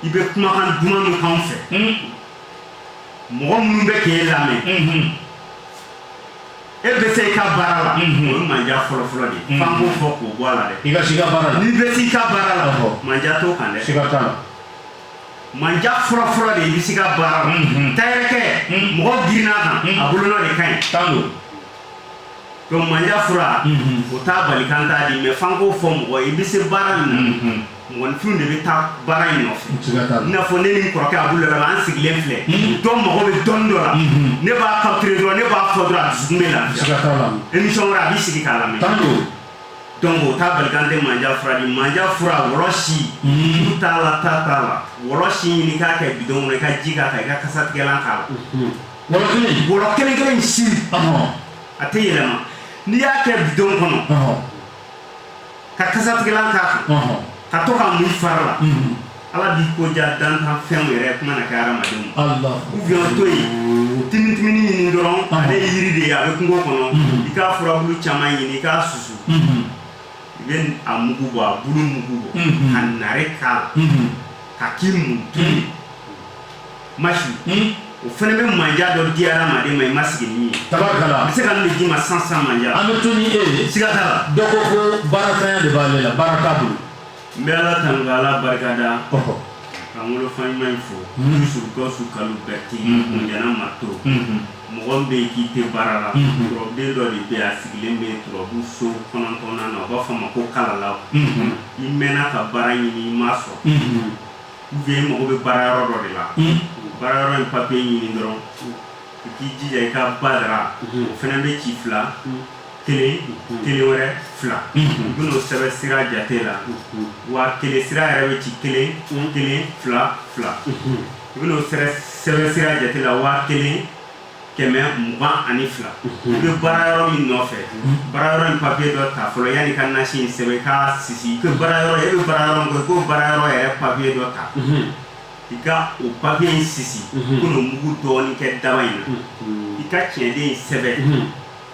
i bɛ kumakan duman min kan fɛ mɔgɔ minnu bɛ kɛ e lamɛn e bɛ se i ka baara la o manja fɔlɔfɔlɔ de ye fanko fɔ k'o bɔ a la dɛ i ka i ka baara la n'i bɛ i ka baara la manja t'o kan dɛ i ka taa la Manja fɔlɔfɔlɔ de i bɛ se i ka baara takɛ mɔgɔ girinna a kan a bolonɔ de ka ɲi tan don don manja fura o t'a bali k'an t'a di mɛ fan ko fɔ mɔgɔ i bɛ se baara min mɔgɔninfin de bɛ taa baara in nɔfɛ i n'a fɔ ne ni kɔrɔkɛ a bolo la an sigilen filɛ dɔn mɔgɔ bɛ dɔn dɔ la ne b'a ka dɔrɔn ne b'a fɔ dɔrɔn a dusukun bɛ la emisiyɔn a b'i sigi k'a la dɔnku o t'a bali k'an tɛ manja fura di manja fura wɔsi t'a la ta t'a la wɔsi ɲini k'a kɛ bidɔn kɔnɔ i ka ji k'a kan i ka kasatigɛlan k'a la wɔɔrɔ kelen kelen si a tɛ yɛlɛma n'i y'a kɛ bidɔn kɔnɔ ka kasatigɛlan k'a kan ka to k'a mun i fari la Ala b'i ko diya dantanfɛnw yɛrɛ kuma na kɛ hadamadenw ma. Alahu akbar Ou bien o to yen, timitimini ɲini dɔrɔn, ale ye jiri de ye, a bɛ kungo kɔnɔ, i k'a furabulu caman ɲini i k'a susu, unhun, i bɛ a mugu bɔ, a bulu mugu bɔ, unhun, ka nare k'a la, unhun, ka k'i mun to yen, Masi, un, o fana bɛ manja dɔ di hadamaden ma i ma sigi ni min ye, tabarikala, a bɛ se ka nin de d'i ma sisan sisan manja, an bɛ to ni e ye, siga t'a la, dɔ ko ko baaratanya de b'ale la baara t'a bolo n bɛ Ala tanu ka Ala barikada ka n wolofa ɲuman in fo Yusu Gawusu Kalilu Bɛrɛte Ɲanna Marito mɔgɔ min bɛ yen k'i tɛ baara la turabuden dɔ de bɛ yen a sigilen bɛ turabu so kɔnɔntɔnnan na u b'a fɔ a ma ko kalalaw i mɛnna ka baara ɲini i m'a sɔrɔ ou bien i mago bɛ baara yɔrɔ dɔ de la o baara yɔrɔ in papiye ɲini dɔrɔn i k'i jija i ka badara o fana bɛ ci fila kelen kelen wɛrɛ fila i bɛn'o sɛbɛn sira jate la wa kelen sira yɛrɛ bɛ ci kelen kelen fila fila i bɛn'o sɛbɛn sira jate la wa kelen kɛmɛ mugan ani fila i bɛ baara yɔrɔ min nɔfɛ baara yɔrɔ in papiye dɔ ta fɔlɔ yanni i ka nasi in sɛbɛn k'a sisi ko baara yɔrɔ e bɛ baara yɔrɔ min kɛ k'o baara yɔrɔ yɛrɛ papiye dɔ ta i ka o papiye in sisi ko n'o mugu dɔɔnin kɛ daba in na i ka tiɲɛden in sɛbɛn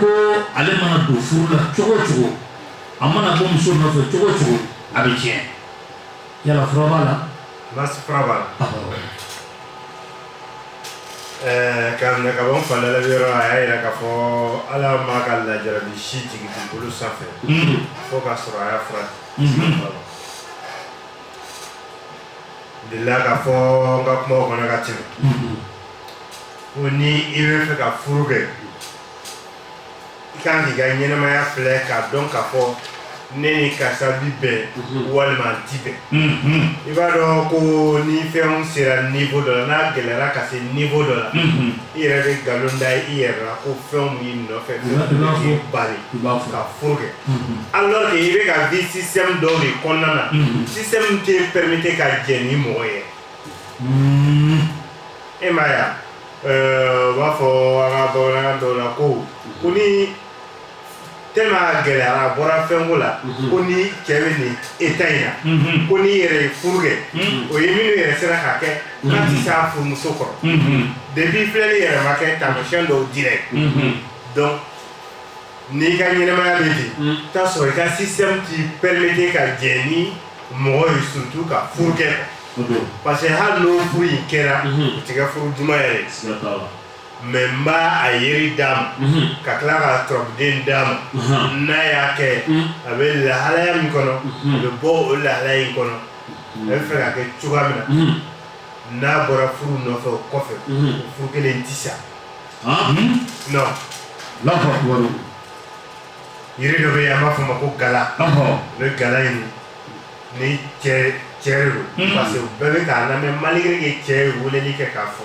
ko ale mana don furu la cogo cogo a mana bɔ muso nɔfɛ cogo cogo a bɛ tiɲɛ yala fura b'a la fura b'a la ɛɛ ka minɛ ka bɔ n falala yɔrɔ a y'a yira k'a fɔ ala m'a ka lajarabi si jigin dugukolo sanfɛ fo k'a sɔrɔ a y'a fura delila k'a fɔ n ka kumaw kɔnɔna ka tɛmɛ ko ni i bɛ fɛ ka furu kɛ i kan k'i ka ɲɛnamaya filɛ k'a dɔn k'a fɔ ne ni karisa bi bɛn walima an ti bɛn i b'a dɔn ko ni fɛnw sera niveau dɔ la n'a gɛlɛyara ka se niveau dɔ la i yɛrɛ bɛ nkalon da i yɛrɛ la ko fɛnw b'i nɔfɛ fɛn b'i bali ka furu kɛ alors que i bɛ ka vi système dɔ de kɔnɔna na système tɛ permettre ka jɛ ni mɔgɔ ye e m'a ye u b'a fɔ an ka bamanankan dɔw la ko ko ni te gɛlɛyara a bɔra fɛnko la mhm. ko n'i cɛ bɛ nin état in na mhm. ko n'i yɛrɛ ye furu kɛ mhm. o ye minnu yɛrɛ sera k'a kɛ k'a tɛ se a furumuso kɔrɔ depuis filɛli yɛrɛ ma kɛ taamasiyɛn dɔw dira ye donc n'i ka ɲɛnamaya bɛ ten t'a sɔrɔ i ka système t'i permettre ka jɛ ni mɔgɔ ye surtout ka furu kɛ parce que hali n'o furu in kɛra o tɛ kɛ furu duman yɛrɛ ye mais n b'a a yiri d'a ma ka tila k'a turabuden d'a ma n'a y'a kɛ a bɛ lahalaya min kɔnɔ a bɛ bɔ o lahalaya in kɔnɔ a bɛ fɛ ka kɛ cogoya min na n'a bɔra furu nɔfɛ o kɔfɛ furu kɛlen tɛ sa yiri dɔ bɛ yen an b'a fɔ a ma ko gala o bɛ gala ɲini ni cɛ yɛrɛ don parce que bɛɛ bɛ k'a lamɛn malgré que cɛ ye weleli kɛ k'a fɔ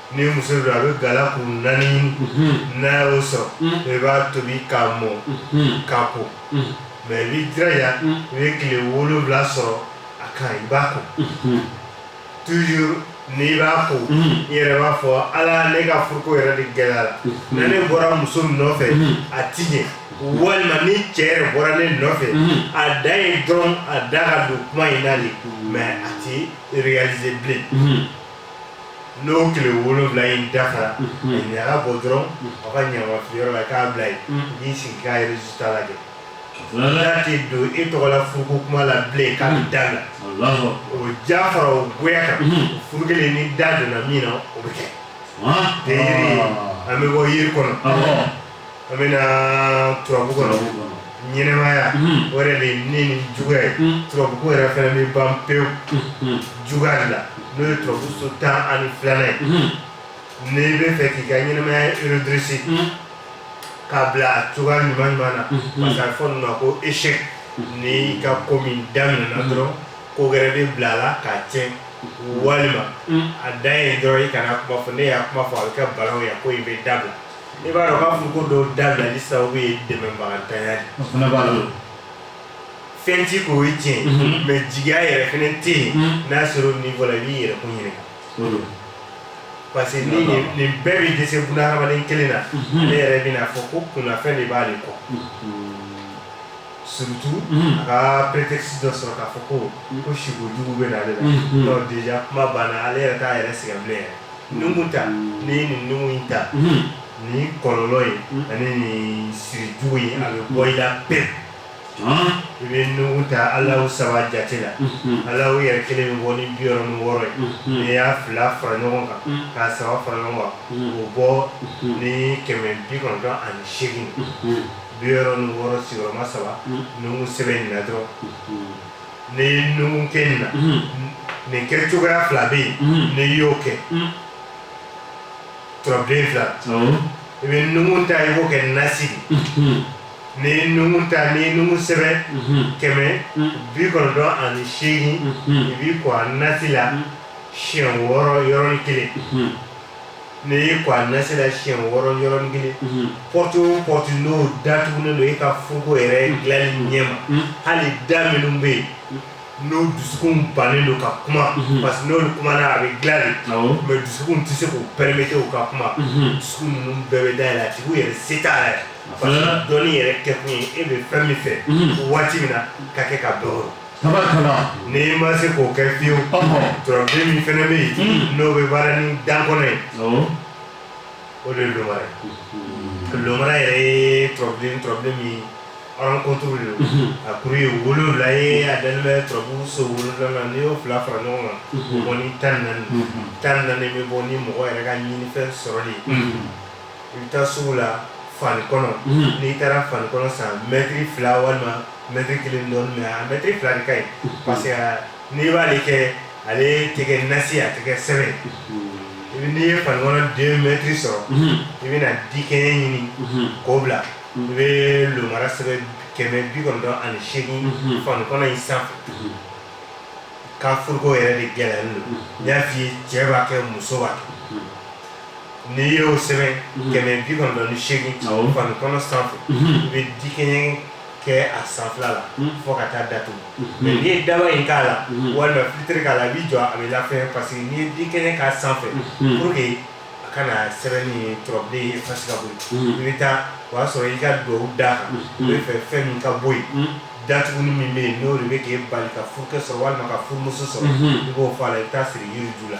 ni muso don a bɛ gala kun naani ɲini n'a y'o sɔrɔ i b'a tobi k'a mɔ k'a ko mais i b'i jija i bɛ tile wolonwula sɔrɔ a kan i b'a ko toujours n'i b'a ko i yɛrɛ b'a fɔ ala ne ka furuko yɛrɛ de gɛlɛyala ni ne bɔra muso nɔfɛ a ti ɲɛ walima ni cɛ yɛrɛ bɔra ne nɔfɛ a dan ye dɔrɔn a da ka don kuma in na de mais a tɛ réaliser bilen n'o tile wolonwula in dafara ɲaga bɔ dɔrɔn aw ka ɲamafiliyɔrɔ la k'a bila yen n'i sigi k'a résultat lajɛ n'a tɛ don e tɔgɔ la furuko kuma la bilen k'a bɛ da la o diya fara o goya kan furu kelen n'i da donna min na o bɛ kɛ ten an bɛ bɔ yiri kɔnɔ An bɛ na turabu kɔnɔ ɲɛnamaya mhm. o yɛrɛ de ye ne ni juguya ye mhm. turabuko yɛrɛ fana bɛ ban pewu mhm. juguya de la n'o ye turabu so tan ani filanan ye n'i bɛ fɛ k'i ka ɲɛnamaya redresser k'a bila a cogoya ɲuman ɲuman na parce que a bɛ fɔ nin ma ko échec n'i ka ko min daminɛna dɔrɔn ko wɛrɛ bɛ bila a la k'a tiɲɛ walima a dan ye dɔrɔn i kana kuma fɔ n'i y'a kuma fɔ a bɛ kɛ balawu ye ko i b'a dabila I b'a dɔn k'a fɔ ko dɔw dabilali sababu ye dɛmɛbagantanya de o fana b'a la o. fɛn t'i kun o ye tiɲɛ Mhm. mais jigiya yɛrɛ fɛnɛ tɛ yen Mhm. n'a sera o niveau la i b'i yɛrɛ kun ɲininka O don. parce que ni D'accord. nin nin bɛɛ bɛ dɛsɛ bunahadamaden kelen na Mhm. ale yɛrɛ bɛn'a fɔ ko kunnafɛn de b'ale kɔ surtout Mhm. a ka prétexte dɔ sɔrɔ k'a fɔ ko ko siko jugu bɛ na ale la Mhm. donc déjà kuma banna ale yɛrɛ t'a yɛrɛ sɛgɛn bilen yɛrɛ nuhun ta n'i ye nin nuhun in ta ni kɔlɔlɔ ye ani nin sirijugu ye a bɛ bɔ i la pewu i bɛ nuhun ta ala saba jate la ala yɛrɛ kelen bɛ bɔ ni bi wɔɔrɔ ni wɔɔrɔ ye n'i y'a fila fara ɲɔgɔn kan k'a saba fara ɲɔgɔn kan o bɔ ni kɛmɛ bi kɔnɔntɔn ani segin bi wɔɔrɔ ni wɔɔrɔ sigiyɔrɔma saba nuhun sɛbɛnni na dɔrɔn Ni nuhun kɛ na nin kɛcogoya fila bɛ yen n'i y'o kɛ turabuden fila i bɛ nuhun ta i b'o kɛ nasi ni nuhun ta ni nuhun sɛbɛn kɛmɛ bi kɔnɔntɔn ani segin i b'i ko a nasi la siɲɛ wɔɔrɔ yɔrɔ kelen N'i y'i ko a nasi la siɲɛ wɔɔrɔ yɔrɔnin kelen porte porte n'o datugulen don e ka furuko yɛrɛ dilanli ɲɛ ma hali da minnu bɛ yen n'o dusukun bannen don ka kuma parce que n'o kumana a bɛ dilan mais dusukun tɛ se k'o permettre u ka kuma dusukun ninnu bɛɛ bɛ dayɛlɛ a tigi yɛrɛ se yɛrɛ dɔnni yɛrɛ kɛkun ye e bɛ fɛn min fɛ waati min na k'a kɛ k'a sɔrɔ n'i ma se k'o kɛ fiyewu turabuden min fana bɛ yen n'o bɛ baara ni dan kɔnɔ ye o de ye lomara ye lomara yɛrɛ ye turabuden turabuden min ye rencontre de don a kuru ye wolonwula ye a dalen bɛ turabu so wolonwula la n'i y'o fila fara ɲɔgɔn kan o bɛ bɔ ni tan ni naani tan ni naani bɛ bɔ ni mɔgɔ yɛrɛ ka ɲinifɛn sɔrɔli ye i bɛ taa sugu la fanikɔnɔ n'i taara fanikɔnɔ san mɛtiri fila walima mɛtiri kelen dɔ mais mɛtiri fila de ka ɲi parce que n'i b'ale kɛ ale tɛ kɛ nasi a tɛ kɛ sɛbɛn n'i ye fanikɔnɔ deux mɛtiri sɔrɔ i bɛna dikɛɲɛ ɲini k'o bila i bɛ lomara sɛbɛn kɛmɛ bi kɔnɔntɔn ani segin fanikɔnɔ in san ka furuko yɛrɛ de gɛlɛya n y'a fɔ i ye cɛ b'a kɛ muso b'a n'i y'o sɛbɛn mhm. kɛmɛ bi kɔnɔntɔn ni seegin fanikɔnɔ sanfɛ mhm. i bɛ dikɛɲɛ kɛ a sanfɛla la mhm. fo ka taa datugu mais n'i ye daba in k'a la walima filitiri k'a la i b'i jɔ a bɛ lafɛn parce que n'i ye dikɛɲɛ k'a sanfɛ pour que a kana sɛbɛnni ye turabuden ye effacer ka bɔ yen i bɛ taa o y'a sɔrɔ i ka duwawu d'a kan i b'a fɛ fɛn min ka bɔ yen datuguni min bɛ yen n'o de bɛ k'e bali ka furukɛ sɔrɔ walima ka furumuso sɔrɔ i b'o fɔ a la i bɛ taa a siri yiri ju la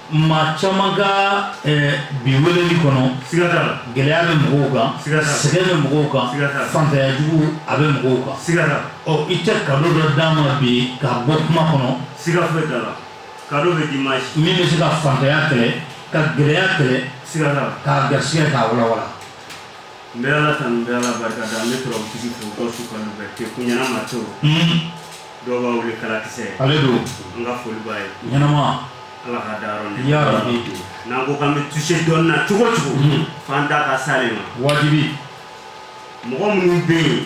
maa caman ka bi wele kɔnɔ gɛlɛya bɛ mɔgɔw kan sɛgɛ bɛ mɔgɔw kan fantanya jugu a bɛ mɔgɔw kan ɔ i tɛ ka dɔ d'a ma bi ka bɔ kuma kɔnɔ siga bɛ ka bɛ di ma min bɛ se ka fantanya kɛlɛ ka gɛlɛya kɛlɛ siga ka ga sigaka ka wala wa n bɛ ala ka n bɛ ala barika da an bɛ sɔrɔ bɛ kɛ ko ɲɛna ma Dɔw b'a wele kalakisɛ ale don n ka foli b'a ye ɲɛnama Ala k'a dayɔrɔ nɛɛma yarabi n'an ko k'an bɛ toucher dɔnni na cogo o cogo unhun f'an da ka s'ale ma waajibi mɔgɔ minnu bɛ yen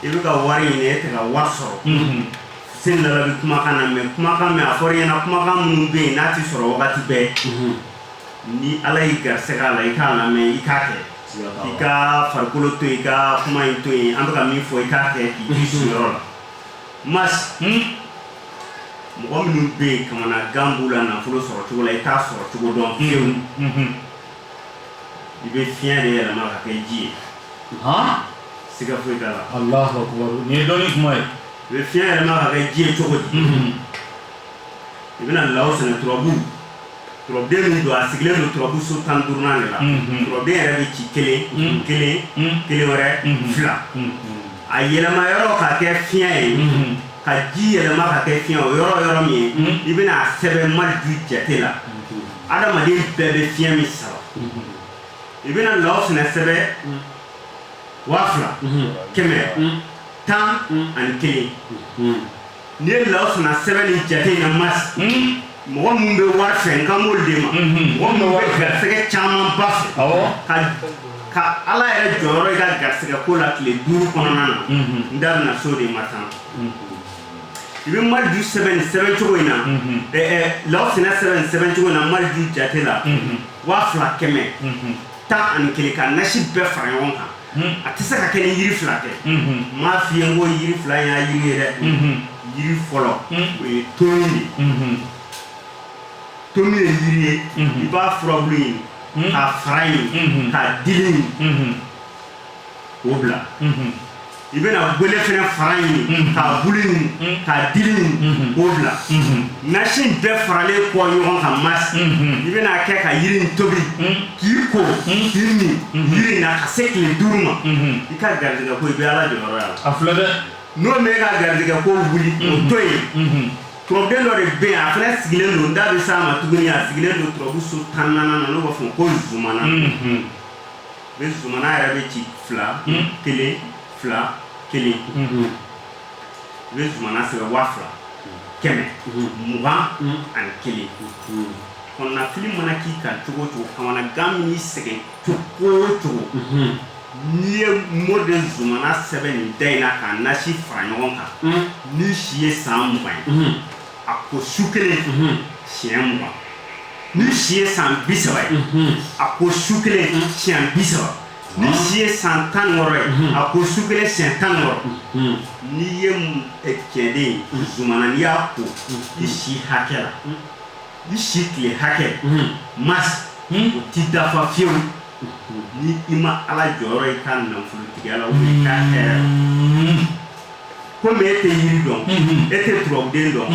i bɛ ka wari ɲini e tɛ ka wari sɔrɔ unhun sen dala bɛ kumakan na mais kumakan min a fɔra i ɲɛna kumakan minnu bɛ yen n'a tɛ sɔrɔ wagati bɛɛ unhun ni Ala y'i garisɛgɛ a la i k'a lamɛn i k'a kɛ siga t'a la i ka farikolo to yen i ka kuma in to yen an bɛ ka min fɔ i k'a kɛ k'i to i sigiyɔrɔ la Mas mɔgɔ minnu bɛ yen kamana gan b'u la nafolo sɔrɔ cogo la i t'a sɔrɔ cogo dɔn fiyewu i bɛ fiɲɛ de yɛlɛma ka kɛ ji ye siga foyi t'a la nin ye dɔnni kuma ye i bɛ fiɲɛ yɛlɛma ka kɛ ji ye cogo di i bɛna lawsinɛ turabu den min don a sigilen don turabuso tan duurunan de la turabuden yɛrɛ bɛ ci kelen kelen kelen wɛrɛ fila a yɛlɛma yɔrɔ ka kɛ fiɲɛ ye ka ji yɛlɛma ka kɛ fiɲɛ o yɔrɔ yɔrɔ min ye i bɛna a sɛbɛn maleju jate la adamaden bɛɛ bɛ fiɲɛ min sama i bɛna lawsinɛ sɛbɛn waa fila kɛmɛ tan ani kelen N'i ye lawsinɛ sɛbɛn nin jate in na mas mɔgɔ minnu bɛ wari fɛ n kan b'o de ma mɔgɔ minnu bɛ garisɛgɛ camanba fɛ ka ka ala yɛrɛ jɔyɔrɔ i ka garisɛgɛ ko la tile duuru kɔnɔna na n da bɛna s'o de ma tan i bɛ maleju sɛbɛn nin sɛbɛn cogo in na lawsinɛ sɛbɛn nin sɛbɛn cogo in na maleju jate la waa fila kɛmɛ tan ani kelen ka nasi bɛɛ fara ɲɔgɔn kan a tɛ se ka kɛ ni yiri fila tɛ mais fiɲɛ ko yiri fila y'a yiri ye dɛ yiri fɔlɔ o ye tomi ye tomi ye yiri ye i b'a furabulu ɲini k'a fara ɲini k'a dili ɲini o bila i bɛna gwele fana fara ɲini k'a bulu ɲini k'a dili ɲini o bila nasi bɛɛ faralen kɔ ɲɔgɔn kan mas i bɛn'a kɛ ka yiri tobi K'i ko k'i min yiri na ka se tile duuru ma i ka garijɛgɛ ko i bɛ ala jɔyɔrɔ y'a la a filɛ dɛ n'o ma e ka garijɛgɛ ko wuli o to yen turabuden dɔ de bɛ a fana sigilen don n da bɛ s'a ma tuguni a sigilen don turabu so tan naaninan na an b'a fɔ ko zumana zumana yɛrɛ bɛ ci fila kelen fila kelen u bɛ zumana sɛbɛn waa fila kɛmɛ mugan ani kelen kɔnɔnafili mana k'i kan cogo o cogo kamanagan man'i sɛgɛn cogo o cogo n'i ye mɔ de zumana sɛbɛn nin da in na k'a nasi fara ɲɔgɔn kan n'i si ye san mugan ye a ko su kelen siɲɛ mugan n'i si ye san bi saba ye a ko su kelen siɲɛ bi saba N'i si ye san tan wɔɔrɔ ye mhm. a ko su kelen siɲɛ tan wɔɔrɔ mhm. n'i ye eh, cɛden mhm. zumana n'i y'a ko i si hakɛ la i si tile hakɛ masi o tɛ dafa fiyewu ni i ma ala jɔyɔrɔ ye i ka nafolotigiya la ubiyɛn i ka hɛrɛ la komi e tɛ yiri dɔn e tɛ turabuden dɔn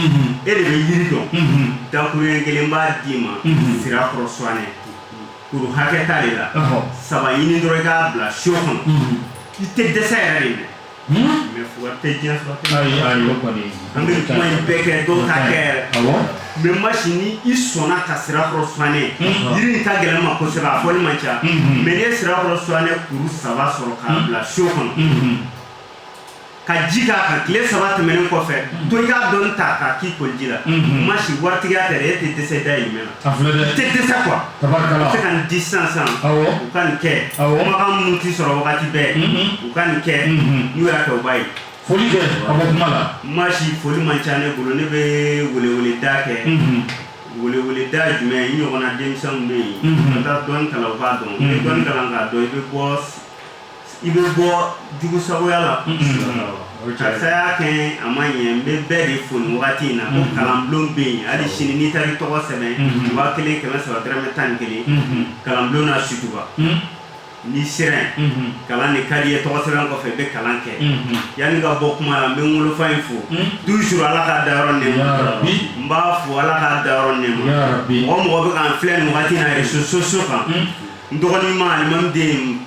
e de bɛ yiri dɔn dakuruɲɛ kelen n b'a d'i ma sira kɔrɔ suwanɛ kuru hakɛ ta de la saba ɲini dɔrɔn i k'a bila siyo kɔnɔ i tɛ dɛsɛ yɛrɛ de dɛ mɛ fura tɛ diɲɛ sɔrɔ an bɛ kuma in bɛɛ kɛ dɔw t'a kɛ yɛrɛ mɛ masi ni i sɔnna ka sira kɔrɔ suwanɛ yiri in ka gɛlɛn n ma kosɛbɛ a fɔli man ca mɛ n'i ye sira kɔrɔ suwanɛ kuru saba sɔrɔ k'a bila siyo kɔnɔ ka ji k'a kan tile saba tɛmɛnen kɔfɛ mm. to i k'a dɔɔni ta k'a k'i koli ji la mm-hmm. masi waritigiya tɛ dɛ e tɛ dɛsɛ dahirimɛ la i tɛ dɛsɛ kuwa u se ka nin di sisan sisan u ka nin kɛ kumakan minnu tɛ sɔrɔ wagati bɛɛ mm-hmm. u ka nin kɛ mm-hmm. n'u y'a kɛ u b'a ye foli kɛ ka bɔ kuma la masi foli man ca ne bolo ne bɛ weleweleda kɛ weleweleda jumɛn i ɲɔgɔnna denmisɛnw bɛ yen ka taa dɔnni kalan u k'a dɔn i bɛ dɔnni kalan k'a dɔn i bɛ bɔ i bɛ bɔ jugusagoya la karisa y'a kɛ a ma ɲɛ n bɛ bɛɛ de fo wagati in na ko kalanbulon bɛ yen hali sini n'i taara i tɔgɔ sɛbɛn waa kelen kɛmɛ saba dɔrɔmɛ tan ni kelen kalanbulon na sotuba n'i sera kalan ni kari ye tɔgɔ sɛbɛn kɔfɛ i bɛ kalan kɛ yanni n ka bɔ kuma la n bɛ n wolofa in fo du su ala k'a da yɔrɔ ne n b'a fo ala k'a da yɔrɔ ne mɔgɔ mɔgɔ bɛ k'an filɛ nin wagati na réseaux sociaux kan n tɔgɔma alimami den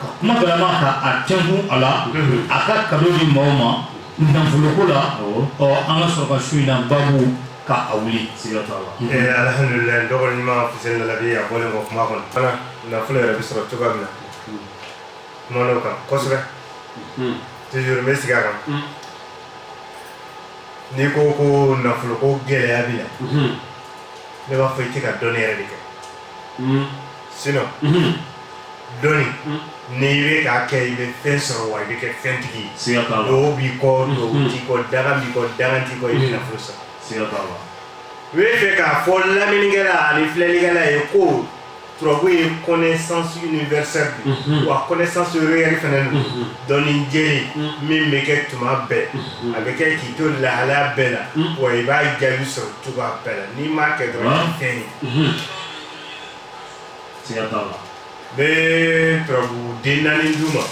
ka kuma galama ta a tɛnkun a la, unhun, a ka kado di maaw ma nafoloko la, awɔ, ɔ an ka sɔrɔ ka su in na baabu ka a wuli, siga t'a la, ɛɛ eh, alihamudulila dɔgɔni ɲuman Fuseni Lalabi a bɔlen kɔ kuma kɔnɔ fana nafolo yɛrɛ bɛ sɔrɔ cogoya min na kumana o kan kosɛbɛ hmm. toujours n bɛ sigi a kan hmm. n'i ko ko nafolo ko gɛlɛya bɛ na hmm. ne b'a fɔ i tɛ ka dɔnni yɛrɛ de kɛ. sinon dɔnni ni i bɛ k'a kɛ i bɛ fɛn sɔrɔ wa i bɛ kɛ fɛntigi duwawu b'i kɔ duwawu t'i kɔ danga b'i kɔ danga t'i kɔ i bɛ nafolo sɔrɔ u bɛ fɛ k'a fɔ lamɛnnikɛla ani filɛlikɛla ye ko turabu ye connaissance universelle de ye wa connaissance réelle fana don dɔnni jɛlen min bɛ kɛ tuma bɛɛ a bɛ kɛ k'i to lahalaya bɛɛ la wa i b'a jaabi sɔrɔ cogoya bɛɛ la n'i m'a kɛ dɔrɔn i tɛ fɛn ye. bɛ turabu den naani duguma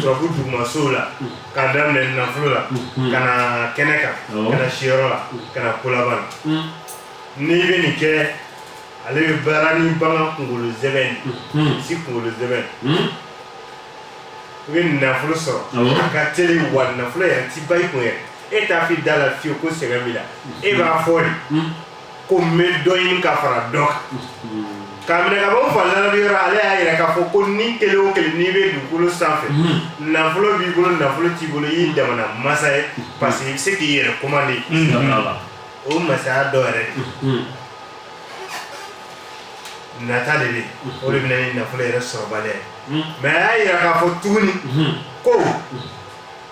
turabu dugumasow la ka daminɛ nafolo la ka na kɛnɛ kan ka na siyɔrɔ la ka na kolaban na n'i bɛ nin kɛ ale bɛ baara ni bagan kunkolo sɛbɛn misi kunkolo sɛbɛn i bɛ nafolo sɔrɔ a ka teli wa nafolo yɛrɛ ti ban i kun yɛrɛ e t'a f'i da la fewu ko sɛgɛn b'i la e b'a fɔ de ko n bɛ dɔ ɲini ka fara dɔ kan ka minɛ ka bɔ fanzara yɔrɔ ale y'a yira k'a fɔ ko ni kelen o kelen n'i bɛ dugukolo sanfɛ nafolo b'i bolo nafolo t'i bolo i ye jamana masa ye parce que i bɛ se k'i yɛrɛ kɔmande o masaya dɔ yɛrɛ nata de bɛ o de bɛ na ni nafolo yɛrɛ sɔrɔbaliya ye mais a y'a yira k'a fɔ tuguni ko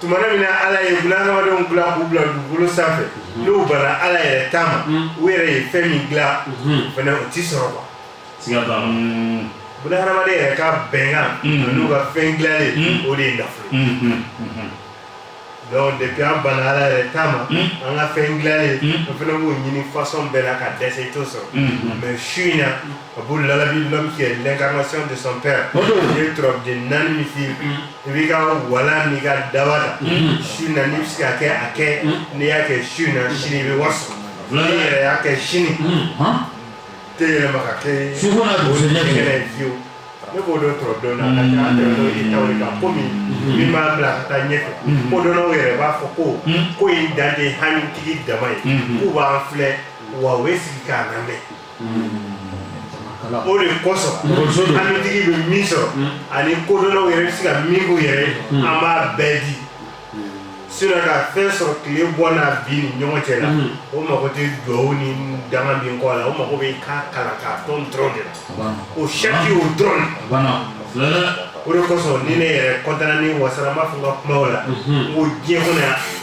tuma min na ala ye bunahadamadenw dila k'u bila dugukolo sanfɛ mhm. n'u banna ala yɛrɛ ta ma mhm. u yɛrɛ ye fɛn min dila mhm. fana o ti sɔrɔ quoi bunahadamaden yɛrɛ ka bɛnkan n'u ka fɛn dilalen o de ye nafolo donc depuis an banna ala yɛrɛ ta ma an ka fɛn dilalen an fana b'o ɲini façon bɛɛ la ka dɛsɛ i t'o sɔrɔ mais su in na A b'u labi la lɛnkama de ye den naani min fili i b'i ka wala ni ka daba la su na bɛ se k'a kɛ n'i y'a kɛ su na sini bɛ wa yɛrɛ y'a kɛ sini tɛ yɛlɛma kɛ su fiye ne b'o dɔn tɔrɔdon na ko min min b'a bila ka taa ɲɛfɛ ko dɔnw yɛrɛ b'a fɔ ko ko ye danden halitigi dama ye k'u b'an filɛ wa sigi k'a lamɛn o de kosɔn halitigi bɛ min sɔrɔ ani kodɔnnaw yɛrɛ bɛ se ka min k'u yɛrɛ ye an b'a bɛɛ di sinon ka fɛn sɔrɔ tile bɔ n'a bin ni ɲɔgɔn cɛ la o mago tɛ duwawu ni danga min kɔ a la o mago bɛ k'a kalan k'a dɔn dɔrɔn de la o sɛki o dɔrɔn o de kosɔn ni ne yɛrɛ kɔntana ni n wasara n b'a fɔ n ka kumaw la n ko diɲɛ kɔnɔ yan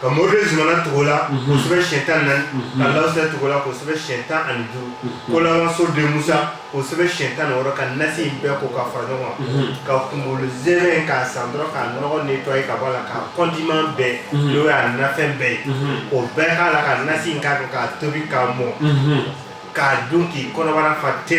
ka mori zumana tugu a la k'o sɛbɛn siyɛn tan na ka lasa tugu a la k'o sɛbɛn siyɛn tan ani duuru kolaso de musa k'o sɛbɛn siyɛn tan ni wɔɔrɔ ka nasi in bɛɛ ko ka fara ɲɔgɔn kan ka kunkolo z in k'a san dɔrɔn k'a nɔgɔ ni to ye ka bɔ a la k'a kɔndiman bɛɛ n'o y'a nafɛn bɛɛ ye k'o bɛɛ k'a la ka nasi in k'a k'a tobi k'a mɔ k'a dun k'i kɔnɔbara fa te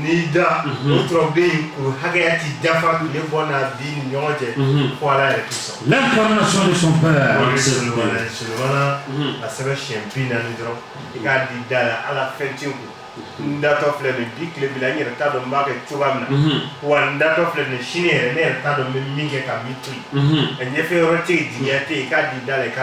N'i da den hakɛya tɛ dafa tun bɔ bi ni ɲɔgɔn cɛ fo ala yɛrɛ a sɛbɛn siyɛn bi naani dɔrɔn i k'a di da la ala fɛn tɛ n kun n datɔ filɛ nin bi tile bila n yɛrɛ t'a dɔn n b'a kɛ cogoya min na wa n datɔ filɛ nin sini yɛrɛ ne yɛrɛ t'a dɔn n bɛ min kɛ ka min to a ɲɛfɛ yɔrɔ tɛ ye di tɛ yen k'a di da la i ka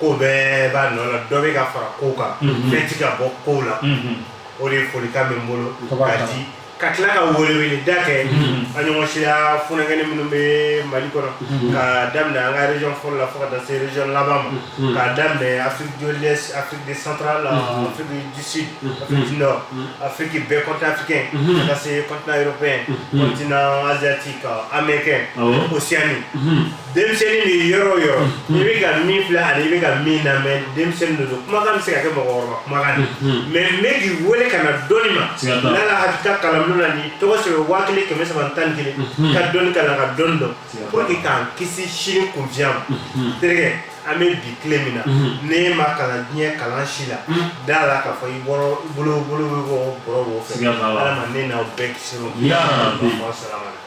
ko bɛɛ b'a nɔ la dɔ bɛ ka fara ko kan bɛɛ tɛ ka bɔ ko la o de ye folikan min bolo ka di ka tila ka wele da kɛ a ɲɔgɔn siya fkɛnɛ minnu bɛ mali kɔnɔ ka daminɛ an kare fɔlɔ la fo ka taa sere laban ma ka daminɛ a de santa la dususi a fiki bɛɛ kɔntanfikɛ ka se kɔntan yɔrɔ fɛntina anzti ka an bɛ kɛ o sini denmisɛnnin de yɔrɔ o yɔrɔ i bɛ ka min filɛ ani i bɛ ka min lamɛn denmisɛnnin de don kumakan bɛ se ka kɛ mɔgɔkɔrɔba kumakan ye mɛ n bɛ k'i wele ka na dɔnni ma n'ala hakilita kalanbolo la ni tɔgɔ sɛbɛn waa kelen kɛmɛ saba tan ni kelen ka dɔnni kalan ka dɔnni dɔn pour que k'an kisi sini kunfinya ma terikɛ an bɛ bi tile min na n'i ma kalan diɲɛ kalan si la da la k'a fɔ i bɔra bolo bolo bɛ bɔ bɔrɔ bɔ fɛ ala ma ne n'aw bɛɛ kisi ma salama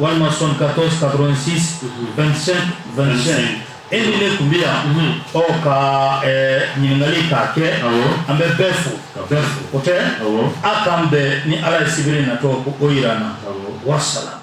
walima soixante-quatorze quatre-vingt-six vingt-cinq vingt-cinq e ni ne tun bɛ yan ɔ ka ɲininkali k'a kɛ an bɛ bɛɛ fo ka bɛɛ fo o tɛ a k'an bɛn ni ala ye sibiri natɔ k'o jira an na wasalamu.